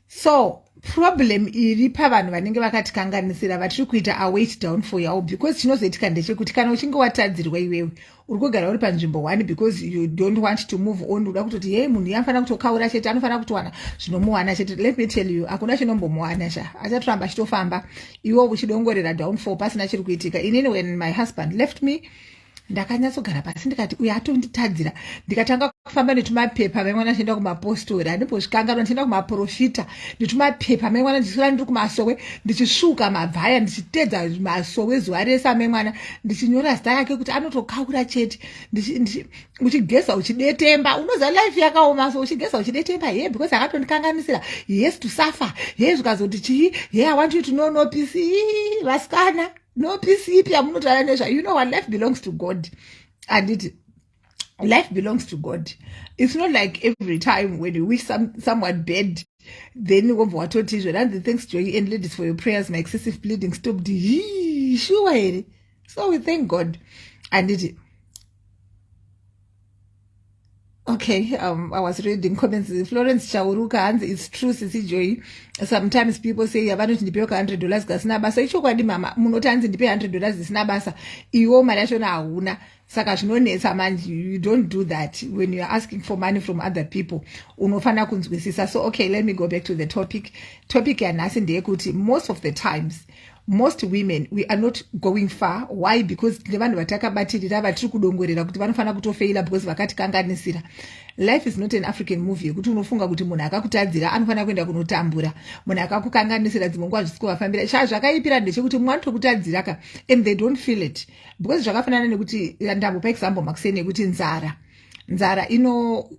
so problem iri pavanhu vanenge vakatikanganisira vatiri kuita await down for yavo because chinozoitika ndechekuti kana uchinge watadzirwa iwewe uri kugara uri panzvimbo one because you don't want to move on uda kutoti hei munhu iye anofanira kutokaura chete anofanira kutowana zvinomuwana chete let me tell you hakuna chinombomuwana sha achatoramba achitofamba iwo uchidongorera down for pasina chiri kuitika inini when my husband left me ndakanyatsogara pasi ndikati uyo atonditadzira ndikatanga kufamba netumapepa maimwana ndichienda kumapostori andimbozvikanganwa ndichienda kumaprofita netumapepa maimwana ndichisvira ndiri kumasowe ndichisvuka mabvaya ndichitedza masowe zuva rese amaimwana ndichinyora zita rake kuti anotokaura chete uchigeza uchidetemba unoziva life yakaoma so uchigeza uchidetemba ye because akatondikanganisira yes to suffer ye zvikazoti chii ye i want you to know no peace vasikana no peace ipi yamunotaura nezvayo you know what life belongs to god handiti life belongs to god it's not like every time when you wish some, someone bad then wobva watoti izvo ranzi thanks joy and ladies for your prayers my excessive bleeding stopped hii shuwa here so we thank god handiti okay um, i was reading comments florence chauruka hanzi its true sisi joyi sometimes people say yavanoti ndipewo ka 100 dollars kasina basa ichokwadi mama munoti hanzi ndipe 100 dollars zisina basa iwo mari yachona hauna saka zvinonetsa manje you don't do that when youare asking for money from other people unofanira kunzwisisa so okay let me go back to the topic topic yanhasi ndeyekuti most of the times most women we are not going far why because tine vanhu vatakabatirira vatiri kudongorera kuti vanofanira kutofeila because vakatikanganisira life is not an african movie yekuti unofunga kuti munhu akakutadzira anofanira kuenda kunotambura munhu akakukanganisira dzimwe nguva zvisi kuvafambira shaa zvakaipira ndechekuti mumwe anotokutadzira ka and they don't feel it because zvakafanana nekuti ndambopa example makuseni yekuti nzara nzara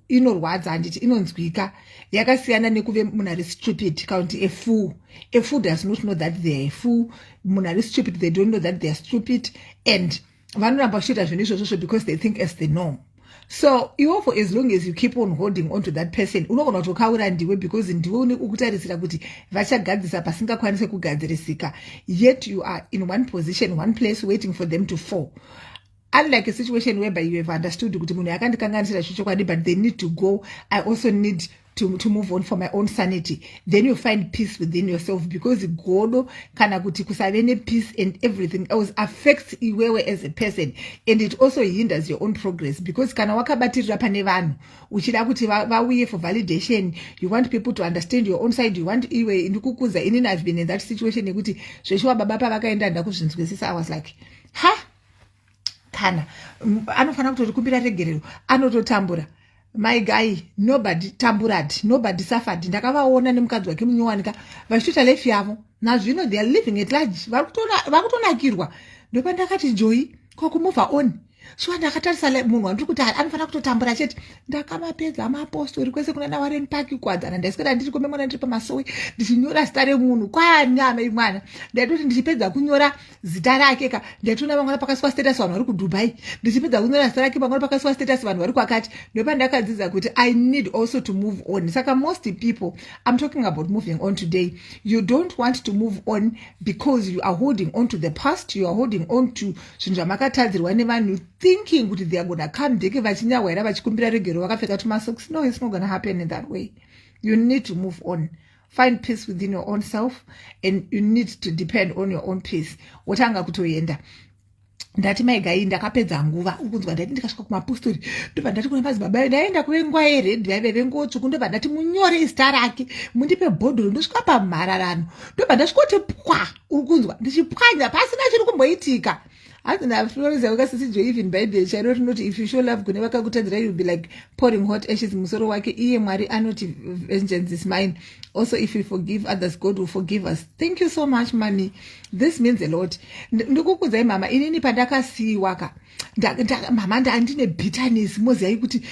inorwadza ino handiti inonzwika yakasiyana nekuve munhu ari stupid kaunti efool efool does not know that theyare fool munhu ari stupid they don't know that theyare stupid and vanoramba vachiita zvinhu izvozvozvo because they think as the norm so iwo for as long as you keep on holding on to that person unogona kutokaura ndiwe because ndiwe une kukutarisira kuti vachagadzisa pasingakwanise kugadzirisika yet you are in one position one place waiting for them to fall unlike a situation whereby you have understood kuti munhu yakandikanganisira chochokwadi but they need to go i also need to, to move on for my own sanity then you find peace within yourself because godo kana kuti kusave nepeace and everything else affects iwewe as a person and it also hinders your own progress because kana wakabatirira pane vanhu uchida kuti vauye for validation you want people to understand your own side you want iwe ndikukuza inini i've been in that situation yekuti zveshuwa baba pavakaenda ndakuzvinzwisisa i was like ha huh? kana anofanira kutorikumbira regerero anototambura my guy nobody tamburad nobody suffered ndakavaona nemukadzi wake munyowanika vachitoita life yavo nazvino they are living at large vakutonakirwa ndopandakati joyi kwakumova on shuwa ndakatarisa munhu wandiri kuti anofanira kutotambura chete ndakamapedza mapostori kwese kuna nawareni paki kuwadzana ndaiswera ndiri komemwana ndiri pamasowe ndichinyora zita remunhu kwanyama imwana ndaitoti ndichipedza kunyora zita rake ka ndaitoona vangwana pakasiwa status vanhu vari kudubai ndichipedza kunyora zita rake vangwana pakasiwa status vanhu vari kwakati ndopandakadzidza kuti i need also to move on saka most people i'm talking about moving on today you don't want to move on because you are holding on to the past you are holding on to zvinhu zvamakatadzirwa nevanhu thinking kuti they are gona come deke vachinyahwaira vachikumbira regero vakapfeka tumasoks no it's not gona happen in that way you need to move on find peace within your own self and you need to depend on your own peace wotanga kutoenda ndati mai gai ndakapedza nguva ukunzwa ndati ndikasvika kumapostori ndobva ndati kuna madzibaba ayo ndaienda kuve nguva yeredhi vaive vengotsvuku ndobva ndati munyore izita rake mundipe bhodhoro ndosvika pamhararano ndobva ndasvikoti pwa uri kunzwa ndichipwanya pasina chiri kumboitika hanzi naflorence yauka sisi jo even bhaibheri chairo rinoti if you show love kune vakakutadzira youll be like pouring hot ashes musoro wake iye mwari anoti vengeance is mine also if you forgive others god will forgive us thank you so much mami this means a lot ndikukudzai mama inini pandakasiiwa ka mama ndandine bitterness moziyai kuti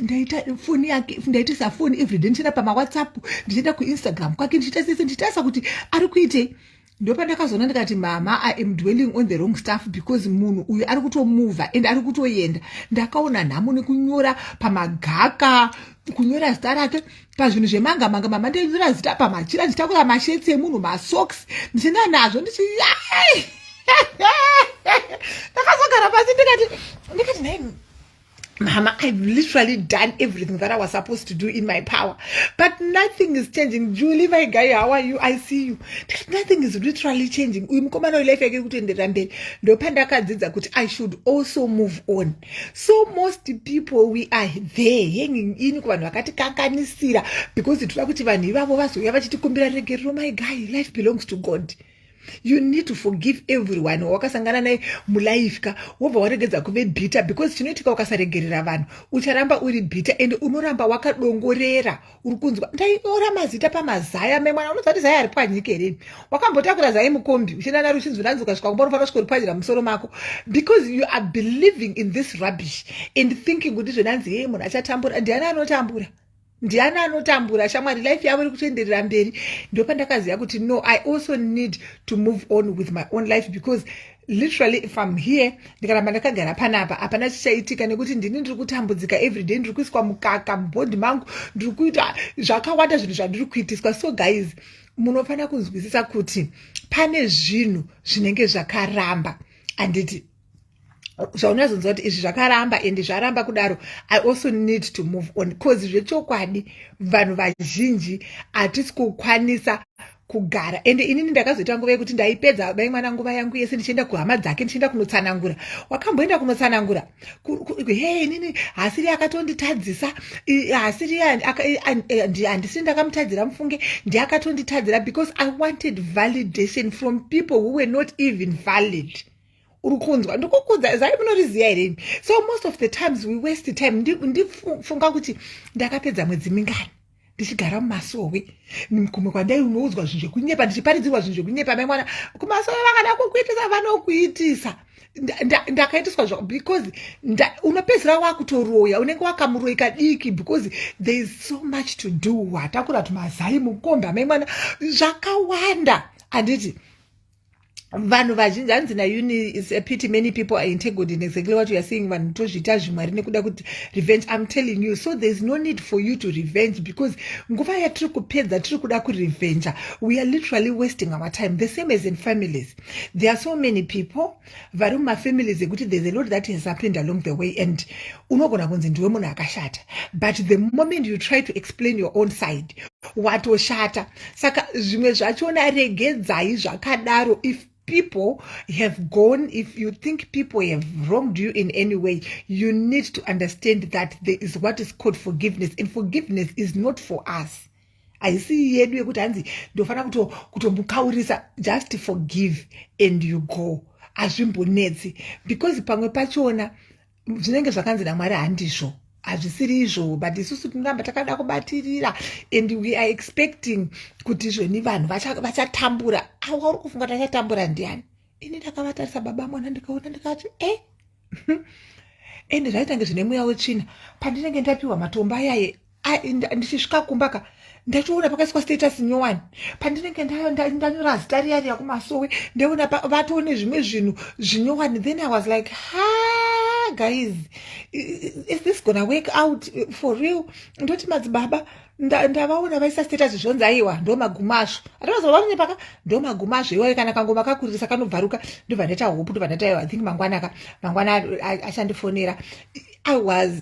ndaita foni yake ndaitisa foni everyday ndichienda pamawhatsapp ndichienda kuinstagram kwake ndichiita sese ndichitarisa kuti ari kuitei ndopandakazoona ndikati mama i am dwelling on the wrong stuff because munhu uyu ari kutomuvha and ari kutoenda ndakaona nhamo nekunyora pamagaka kunyora zita rake pazvinhu zvemanga manga mama ndainyora zita pamachira ndichitakura mashetsi emunhu masocks ndichienda nazvo ndichi ndakazogara pasi ndikati ndikati nai Mama, I've literally done everything that I was supposed to do in my power, but nothing is changing. Julie, my guy, how are you? I see you. Nothing is literally changing. Uyu mukomana uyu life yake kutoenderera mberi. Ndopandakadzidza kuti I should also move on. So most people we are there hanging in kuvanhu vakatikanganisira because tinoda kuti vanhu ivavo vazouya vachitikumbira regerero. My guy, life belongs to God. you need to forgive everyone wawakasangana naye mulife ka wobva waregedza kuve bhita because chinoitika ukasaregerera vanhu ucharamba uri bhita and unoramba wakadongorera uri kunzwa ndainyora mazita pamazaya memwana unoziva kuti zaya ari pwanyika here wakambotakura zai mukombi uchienda naro uchinzwi ranzi ukasvika kumba unofanira kusvika uripwanyira musoro mako because you are believing in this rubbish and thinking kuti zvenanzi hee munhu achatambura ndiani anotambura ndiani anotambura shamwari life yavo iri kutoenderera mberi ndopandakaziva kuti no i also need to move on with my own life because literally if im here ndikaramba ndakagara panapa hapana chichaitika nekuti ndini ndiri kutambudzika everyday ndiri kuiswa mukaka mubhondi mangu ndiri kuita zvakawanda zvinhu zvandiri kuitiswa so guys munofanira kunzwisisa kuti pane zvinhu zvinenge zvakaramba handiti zvaunazonzwa kuti izvi zvakaramba and zvaramba kudaro i also need to move on bcause zvechokwadi vanhu vazhinji hatisi kukwanisa kugara ende inini ndakazoita nguva yekuti ndaipedza bai mwana nguva yangu yese ndichienda kuhama dzake ndichienda kunotsanangura wakamboenda kunotsanangura he inini hasiri akatonditadzisa hasiri handisiri ndakamutadzira mufunge ndiakatonditadzira because i wanted validation from people who were not even valid uri kunzwa ndikukuudza zai munoriziva here imi so most of the times we waste time ndifunga ndi kuti ndakapedza mwedzi mingani ndichigara mumasowe kumwe kwandainoudzwa zvinhu zvekunyepa ndichiparidzirwa zvinhu zvekunyepa mai mwana kumasowe vakada kukuitisa vanokuitisa ndakaitiswa zva because unopedzisira wakutoroya unenge wakamuroyi kadiki because there is so much to do watakura tumazai mukomba mai mwana zvakawanda handiti vanhu vazhinji hanzi nauni is a pity many people are integled in exactly what youare saying vanhu tozviita zvimwari nekuda kuti revenge im telling you so thereis no need for you to revenge because nguva yatiri kupedza tiri kuda kurevenger we are literally wasting our time the same as in families there are so many people vari mumafamilies ekuti thereis a lot that has happened along the way and unogona kunzi ndiwe munhu akashata but the moment you try to explain your own side watoshata saka zvimwe zvachona regedzai zvakadaro if people have gone, if you think people have wronged you in any way, you need to understand that there is what is called forgiveness. And forgiveness is not for us. I see yedu yekuti hanzi ndofana kutomukaurisa just forgive and you go hazvimbonetsi because pamwe pachona zvinenge zvakanzi namwari handizvo hazvisiri izvo but isusu tinoramba takada kubatirira and we are expecting kuti zveni vanhu vachatambura vacha awa uri kufunga tachatambura ndiani ini ndakavatarisa baba mwana ndikaona ndikati e eh? ende zvaitange zvine mweya wetsvina pandinenge ndapiwa matombo ayaye ndichisvika kumba ka ndachiona pakaiswa status nyowani pandinenge ndanyora zita riya riya kumasowe ndaona vatoone zvimwe zvinhu zvinyowani then i was like ha guys is this gonna work out for real ndoti madzibaba ndavaona vaisa status zvonzi aiwa ndo magumo azvo atavazovavane paka ndo magumo azvo iwayo kana kangoma kakuririsa kanobvaruka ndobva ndaita hope ndobva ndaita i think mangwana ka mangwana achandifonera i was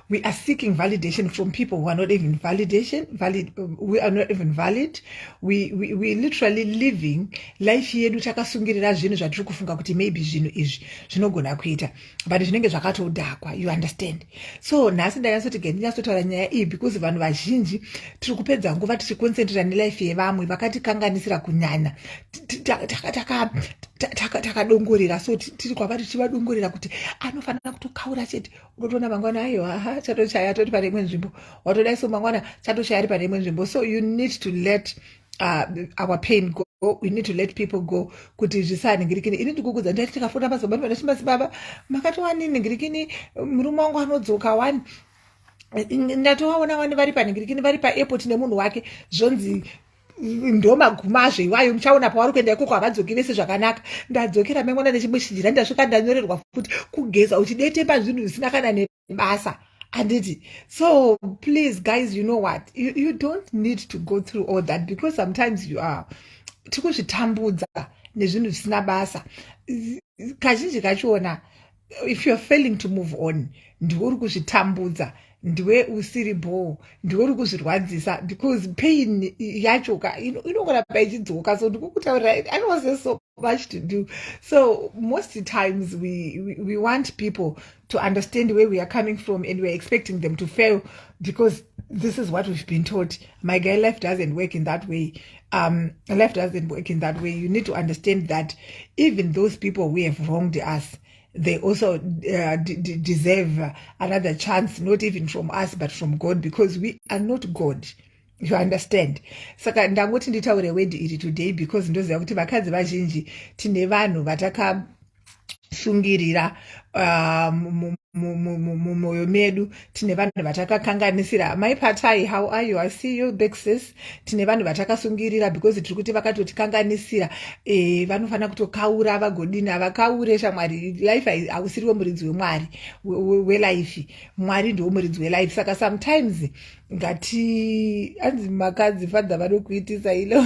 we are seeking validation from people who are not even validation valid we are not even valid we, we, we literally living life yedu takasungirira zvinhu zvatiri kufunga kuti maybe zvinhu izvi zvinogona kuita but zvinenge zvakatodhakwa you understand so nhasi ndanyasoti ge ndinyatsotaura nyaya iyi because vanhu vazhinji tiri kupedza nguva tichiconcentrata nelife yevamwe vakatikanganisira kunyanya takadongorera so tiri kwava tichivadongorera kuti anofanira kutokaura chete unotoona mangwana ayo aha chatochaya atoti pane imwe nzvimbo watoda iso mangwana chatochaya ari pane imwe nzvimbo so you need to let uh, our pain go we need to let people go kuti zvisanhingirikini ini ndikukudza ndaiti ndikafona basa baba ndati basi baba makatowani nhingirikini murume wangu anodzoka wani ndatovaona wani vari panhingirikini vari paairport nemunhu wake zvonzi ndo magumazve iwayo muchaona pavari kuenda ikoko havadzoki vese zvakanaka ndadzokera mangwana nechimwe chijira ndasvika ndanyorerwa futi kugeza uchidetemba zvinhu zvisina kana nebasa anditi so please guys you know what you, you don't need to go through all that because sometimes you are tikuzvitambudza nezvinhu zvisina basa kazhinji kachiona if youare failing to move on ndiwe uri kuzvitambudza ndiwe usiri bhoo ndiwe uri kuzvirwadzisa because pain yacho ka inongoramba ichidzoka so ndikukutaurira i know se so much to do so most times we, we, we want people to understand where we are coming from and weare expecting them to fail because this is what we've been taught my guy life doesn't work in that way um, life doesn't work in that way. You need to understand that even those people who have wronged us, they also uh, deserve another chance, not even from us, but from God, because we are not God. you understand saka ndangoti nditaure wedi iri today because ndoziva kuti vakadzi vazhinji tine vanhu vataka sungirira ah, mumwoyo medu tine vanhu vatakakanganisira mai patai how are you i see you big sis tine vanhu vatakasungirira because tiri kuti vakatotikanganisira e, vanofanira kutokaura vagodini avakaure shamwari life hausiriwo muridzi wemwari welife mwari ndiwo muridzi welife saka sometimes ngati anzi makadzi fadha vanokuitisa ilo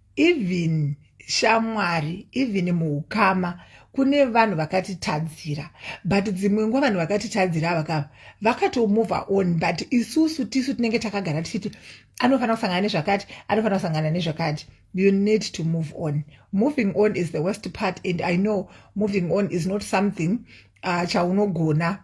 even shamwari even muukama kune vanhu vakatitadzira but dzimwe nguva vanhu vakatitadzira avakava vakatomova on but isusu tisu tinenge takagara tichiti anofanira kusangana nezvakati anofanira kusangana nezvakati you need to move on moving on is the worst part and i know moving on is not something uh, chaunogona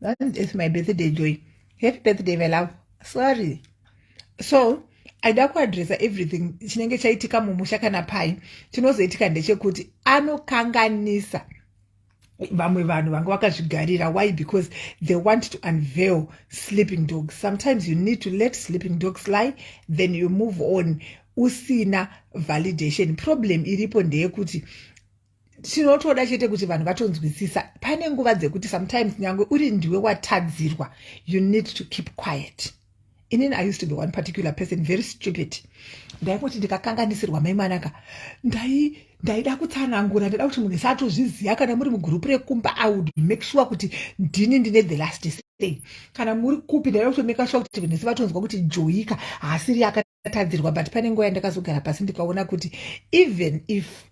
That is my birthday joy. Happy birthday my love. Sorry. So aida kuadresa everything chinenge chaitika mumusha kana pai chinozoitika ndechekuti anokanganisa vamwe vanhu vanga vakazvigarira why because they want to unveil sleeping dogs sometimes you need to let sleeping dogs lie then you move on usina validation problem iripo ndeyekuti tinotoda chete kuti vanhu vatonzwisisa pane nguva dzekuti sometimes nyange uri ndiwe watadzirwa you need to keep quiet inini i used to be one particular person very stupid ndaingoti ndikakanganisirwa mai mwanaka ndai ndaida kutsanangura ndaida kuti munhu satozviziva kana muri mugurupu rekumba i would make sure kuti ndini ndine the last say kana muri kupi ndaida kutomeka sure kuti vanhu vese vatonzwa kuti joyika haasiri yaka tadzirwa but pane nguva yandakazogara pasi ndikaona kuti even if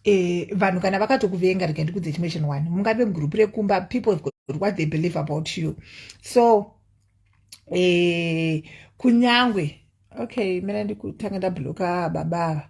eh, vanhu kana vakatokuvenga rega ndikudze chimwe chinhu wani mungave mugurupu rekumba people what they believe about you so eh, kunyangwe okay mena ndikutanga ndabloka baba ava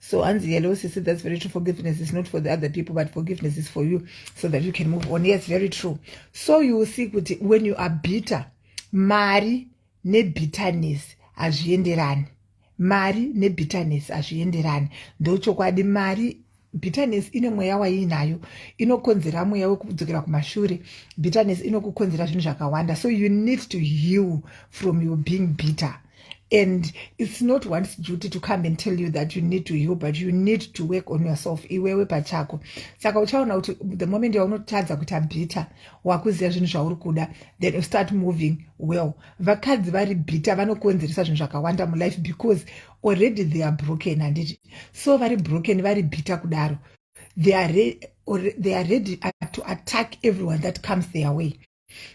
So hanzi hello sisi that's very true forgiveness is not for the other people but forgiveness is for you so that you can move on yes very true so you will see kuti when you are bitter mari nebitterness hazvienderani mari nebitterness hazvienderani ndochokwadi mari bitterness ine mweya waiinayo inokonzera mweya wekudzokera kumashure bitterness inokukonzera zvinhu zvakawanda so you need to heal from your being bitter and it's not one's duty to come and tell you that you need to heal but you need to work on yourself iwewe pachako saka uchaona kuti the moment yaunotadza kuita bitter wakuziva zvinhu zvauri kuda then you start moving well vakadzi vari bitter vanokonzeresa zvinhu zvakawanda mulife because already they are broken handiti so vari broken vari bitter kudaro they are, re or they are ready to attack everyone that comes their way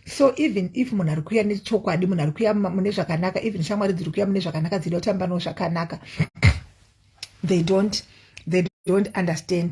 so even if munhu ari kuuya nechokwadi munhu ari kuuya mune zvakanaka even shamwari dziri kuuya mune zvakanaka dzida kutamba no zvakanaka they don't they don't understand